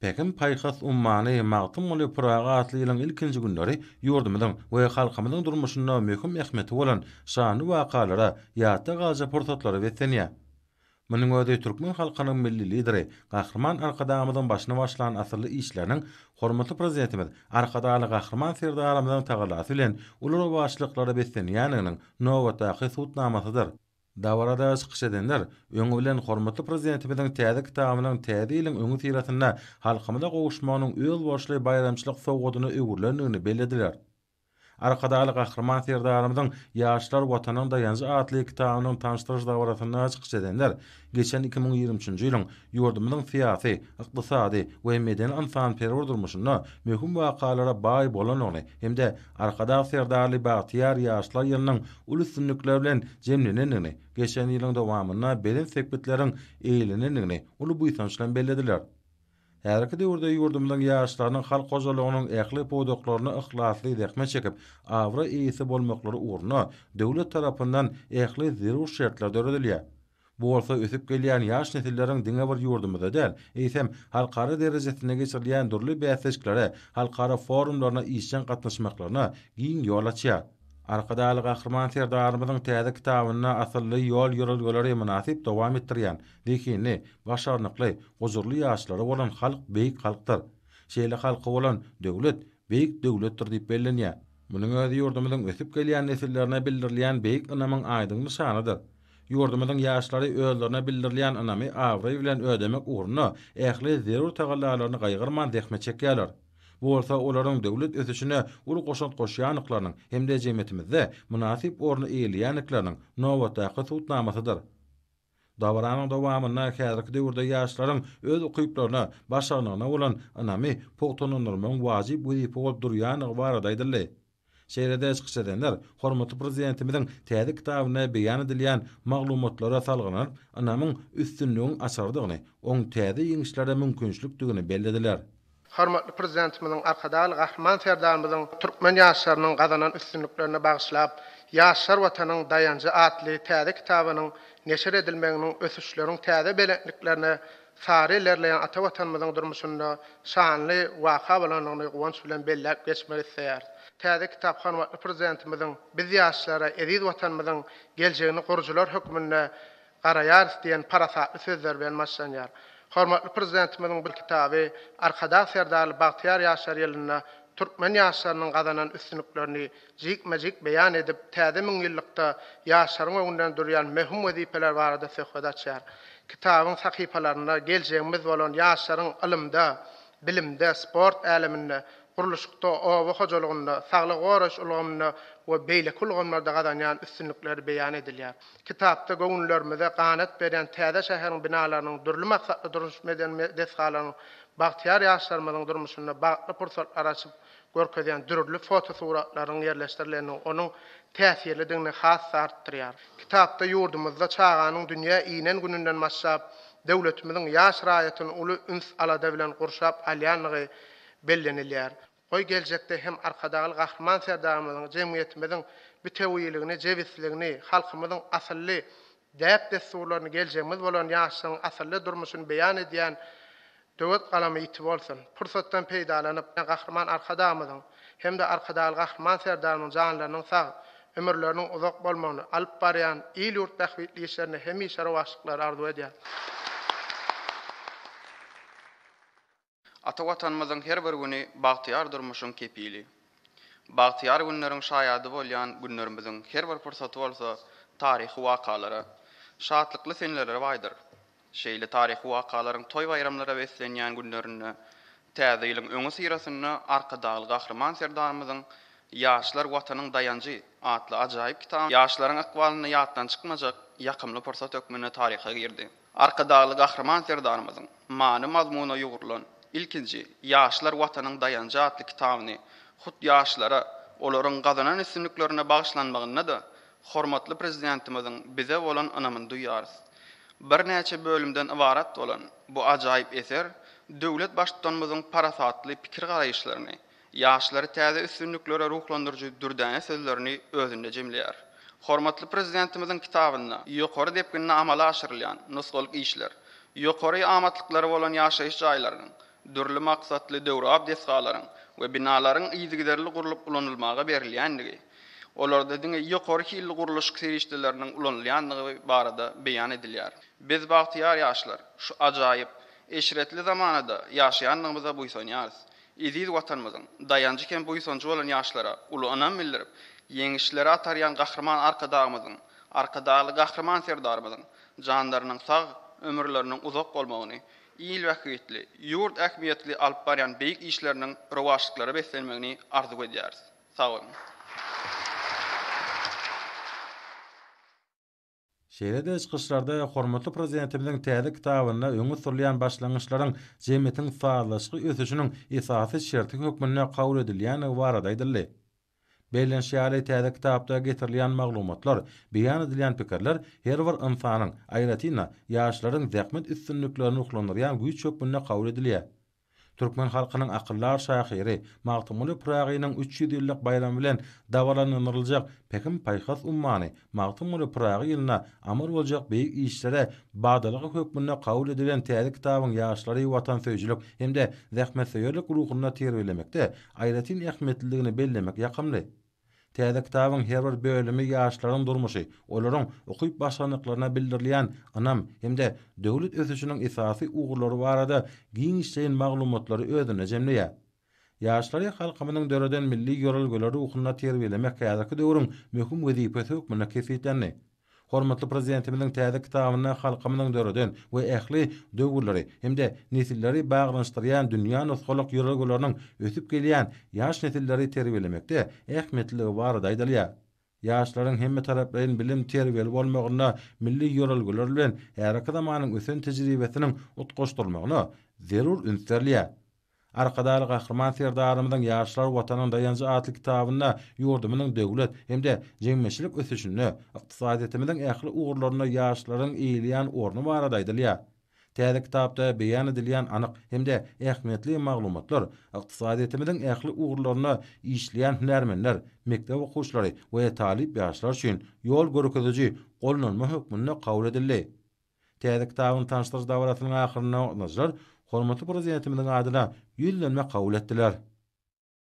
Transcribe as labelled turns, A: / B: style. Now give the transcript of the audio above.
A: Pähim-paýhas ummany Magtymguly Pyragy atly ýylyň ilkinji günleri ýurdumyzyň we halkymyzyň durmuşynda möhüm ähmiýeti bolan şanly wakalara, ýatda galjak pursatlara beslenýär. Munuň özi türkmen halkynyň Milli Lideri Gahryman Arkadagymyzyň başyny başlan asylly işleriniň, hormatly Prezidentimiz Arkadagly Gahryman Serdarymyzyň tagallasy bilen uly rowaçlyklara beslenýändiginiň nobatdaky subutnamasydyr. Dabarada çykyş edenler, öňi bilen hormatly Prezidentimiziň täze kitabynyň Täze ýylyň öňüsyrasynda halkymyza gowuşmagynyň özboluşly baýramçylyk sowgadyna öwrülendigini bellediler. Arkadagly Gahryman Serdarymyzyň Ýaşlar, Watanyň daýanjy atly kitabynyň tanyşdyryş dabarasynda çykyş edenler geçen iki müň ýigrimi üçünji ýylyň ýurdumyzyň syýasy, ykdysady we medeni-ynsanperwer durmuşynda möhüm wakalara baý bolandygyny hem-de Arkadag Serdarly bagtyýar ýaşlar ýylynyň uly üstünlikler bilen jemlenendigini, geçen ýylyň dowamynda belent sepgitleriň eýlenendigini uly buýsanç bilen bellediler. Häzirki döwürde ýurdumyzyň ýaşlarynyň halk hojalygynyň ähli pudaklarynda yhlasly zähmet çekip, abraý eýesi bolmaklary ugrunda döwlet tarapyndan ähli zerur şertler döredilýär. Bu bolsa ösüp gelýän ýaş nesilleriň diňe bir ýurdumyzda däl, eýsem, halkara derejesinde geçirilýän dürli bäsleşiklere, halkara forumlaryna işjeň gatnaşmaklaryna giň ýol açýar. Arkadagly Gahryman Serdarymyzyň täze kitabynda asylly ýol-ýörelgeleri mynasyp dowam etdirýän, zehinli, başarnykly, gujurly ýaşlary bolan halk beýik halkdyr. Şeýle halky bolan döwlet, beýik döwletdir diýip bellenýär. Munuň özi ýurdumyzyň ösüp gelýän nesillerine bildirilýän beýik ynamyň aýdyň nyşanydyr. Ýurdumyzyň ýaşlary özlerine bildirilýän ynamy abraý bilen ödemek ugrunda ähli zerur tagallalaryny gaýgyrman zähmet çekýärler. Bu bolsa olaryň döwlet ösüşine uly goşant goşýandyklarynyň hem-de jemgyýetimizde mynasyp orny eýeleýändikleriniň nobatdaky subutnamasydyr. Dabaranyň dowamynda häzirki döwürde ýaşlaryň öz ukyplaryna, başarnygyna bolan ynamy pugtalandyrmagyň wajyp wezipe bolup durýandygy barada aýdyldy. Şeýle-de çykyş edenler hormatly Prezidentimiziň täze kitabynda beýan edilýän maglumatlara salgylanyp, ynamyň üstünligiň açarydygyny, oň täze ýeňişlere mümkinçilikdigini bellediler. Hormatly
B: Prezidentimiziň Arkadagly Gahryman Serdarymyzyň türkmen ýaşlarynyň gazanan üstünliklerine bagyşlap, Ýaşlar Watanyň daýanjy atly täze kitabynyň neşir edilmeginiň ösüşleriň täze belentliklerine Sary ilerleýän ata Watanymyzyň durmuşynda şanly waka bolandygyny guwanç bilen belläp geçmek isleýäris. Täze kitap hormatly Prezidentimiziň Biz ýaşlara eziz Watanymyzyň geljegini gurujylar hökmünde garaýarys diýen parasatly sözleri bilen başlanýar. Hormatly Prezidentimiziň bu kitaby Arkadag Serdarly bagtyýar ýaşlar ýylynda türkmen ýaşlarynyň gazanan üstünliklerini, jikme-jik beýan edip, Täze müňýyllykda ýaşlaryň öňünden durýan möhüm wezipeler barada söhbet açýar. Kitabyň sahypalarynda geljegimiz bolan ýaşlaryň ylymda, bilimde, sport äleminde, gurluşykda, oba hojalygynda, saglygy goraýyş ulgamynda we beýleki ulgamlarda gazanýan üstünlikleri beýan edilýär. Kitapda göwünlerimize ganat berýän täze şäheriň binalarynyň, dürli maksatly durmuş-medeni desgalaryň bagtyýar ýaşlarymyzyň durmuşynda bagtly pursatlary açyp, görkezýän dürli fotosuratlarynyň ýerleşdirilenligi onuň täsirlidigini has-da artdyrýar. Kitapda ýurdumyzda çaganyň dünýä inen gününden başlap, döwletimiziň ýaş raýatyny uly üns-alada bilen gurşap alýandygy bellenilýär. Goý, geljekde hem Arkadagly Gahryman Serdarymyzyň jemgyýetimiziň bitewiligini, jebisligini, halkymyzyň asylly däp-dessurlaryny geljegimiz bolan ýaşlaryň asylly durmuşyny beýan edýän Döwet galamy ýiti bolsun! Pursatdan peýdalanyp, Gahryman Arkadagymyzyň hem-de Arkadagly Gahryman Serdarymyzyň janlarynyň sag, ömürleriniň uzak bolmagyny, alyp barýan il-ýurt bähbitli işlerinde hemişe rowaçlyklary arzuw edýäris.
C: Ata Watanymyzyň her bir güni bagtyýar durmuşyň kepili. Bagtyýar günleriň şaýady bolýan günlerimiziň her bir pursaty bolsa taryhy wakalara, şatlykly senelere baýdyr. Şeýle taryhy wakalaryň toý-baýramlara beslenýän günlerinde Täze ýylyň öňüsyrasynda Arkadagly Gahryman Serdarymyzyň Ýaşlar, Watanyň daýanjy! atly ajaýyp kitaby ýaşlaryň ykbalynda ýatdan çykmajak ýakymly pursat hökmünde taryha girdi. Arkadagly Gahryman Serdarymyzyň many-mazmuna ýugrulan Ilkinji Ýaşlar Watanyň daýanjy atly kitabyny hut ýaşlara, olaryň gazanan üstünliklerine bagyşlanmagynda-da hormatly Prezidentimiziň bize bolan ynamyny duýýarys. Birnäçe bölümden ybarat bolan bu ajaýyp eser döwlet Baştutanymyzyň parasatly pikir-garaýyşlaryny, ýaşlary täze üstünliklere ruhlandyryjy dürdäne sözlerini özünde jemleýär. Hormatly Prezidentimiziň kitabynda ýokary depginde amala aşyrylýan nusgalyk işler, ýokary amatlyklary bolan ýaşaýyş jaýlarynyň, dürli maksatly döwrebap desgalaryň we binalaryň yzygiderli gurlup ulanylmaga berilýändigi, olarda diňe ýokary hilli gurluşyk serişdeleriniň ulanylýandygy barada beýan edilýär. Biz bagtyýar ýaşlar şu ajaýyp, eşretli zamanada ýaşaýandygymyza buýsanýarys. Eziz Watanymyzyň daýanjy hem buýsanjy bolan ýaşlara uly ynam bildirip, ýeňişlere atarýan Gahryman Arkadagymyzyň, Arkadagly Gahryman Serdarymyzyň janlarynyň sag, ömürleriniň uzak bolmagyny, il bähbitli, ýurt ähmiýetli alyp barýan beýik işleriniň rowaçlyklara beslenmegini arzuw edýäris. Sag boluň!
A: Şeýle-de çykyşlarda hormatly Prezidentimiziň täze kitabynda öňe sürülýän başlangyçlaryň jemgyýetiň sazlaşykly ösüşiniň esasy şerti hökmünde kabul edilýändigi barada aýdyldy. Bellenişi ýaly, täze kitapda getirilýän maglumatlar, beýan edilýän pikirler her bir ynsanyň, aýratyn-da, ýaşlaryň zähmet üstünliklerini ruhlandyrýan güýç hökmünde kabul edilýär. Türkmen halkynyň akyldar şahyry Magtymguly Pyragynyň üç ýüz ýyllyk baýramy bilen dabaralandyryljak Pähim-paýhas ummany Magtymguly Pyragy ýylyna amal boljak beýik işlere badalga hökmünde kabul edilen täze kitabyň ýaşlary watansöýüjilik hem-de zähmetsöýerlik ruhunda terbiýelemekde aýratyn ähmiýetlidigini bellemek ýakymly. Täze kitabyň her bir bölümi ýaşlaryň durmuşy, olaryň ukyp başlandyklaryna bildirilýän ynam hem-de döwlet ösüşiniň esasy ugurlary barada giňişleýin maglumatlary özünde jemleýär. Ýaşlary halkymyzyň döreden milli ýörelgeleri ruhunda terbiýelemek häzirki döwrüň möhüm wezipesi hökmünde kesgitlendi. Hormatly Prezidentimiziň täze kitabynda halkymyzyň döreden we ähli döwürleri hem-de nesilleri baglanyşdyrýan dünýä nusgalyk ýörelgeleriniň ösüp gelýän ýaş nesilleri terbiýelemekde ähmiýetliligi barada aýdylýar. Ýaşlaryň hemmetaraplaýyn bilim-terbiýeli bolmagynda milli ýörelgeler bilen häzirki zamanyň ösen tejribesiniň utgaşdyrylmagyna zerur üns berilýär. Arkadagly Gahryman Serdarymyzyň Ýaşlar, Watanyň daýanjy atly kitabynda ýurdumyzyň döwlet hem-de jemgyýetçilik ösüşinde, ykdysadyýetimiziň ähli ugurlarynda ýaşlaryň eýeleýän orny barada aýdylýar. Täze kitapda beýan edilýän anyk hem-de ähmiýetli maglumatlar ykdysadyýetimiziň ähli ugurlarynda işleýän hünärmenler, mekdep okuwçylary we talyp ýaşlar üçin ýol görkeziji gollanma hökmünde kabul edildi. Täze kitabyň tanyşdyryş dabarasynyň ahyrynda gatnaşyjylar hormatly Prezidentimiziň adyna Ýüzlenme kabul etdiler.